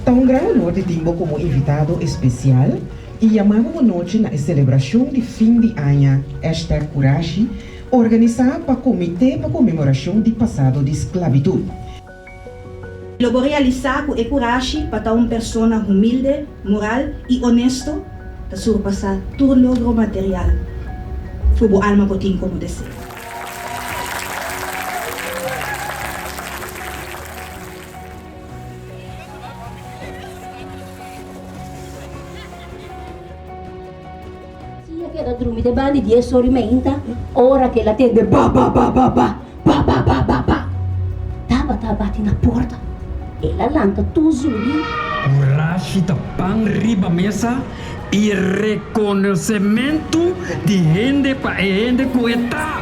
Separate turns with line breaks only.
Ta un gran honor di tin bo komo invitado espesial i yama bo bo nochi na e selebrashon di fin di aña hashtag Kurashi organisá pa Komité pa Konmemorashon di Pasado di Sklabitut. Lo bo realisá ku e kurashi pa ta un persona humilde, moral i onesto ta surpasá tur logro material ku bo alma por tin komo deseo. Si e keda drumi deban di dies or i meinta, ora ku el a tende ba-ba-ba-ba-ba, ba-ba-ba-ba-ba, Tabata a bati na porta. El a lanta tur zumbi. Kurashi ta pan riba mesa i rekonosementu di hende pa e hende ku e ta.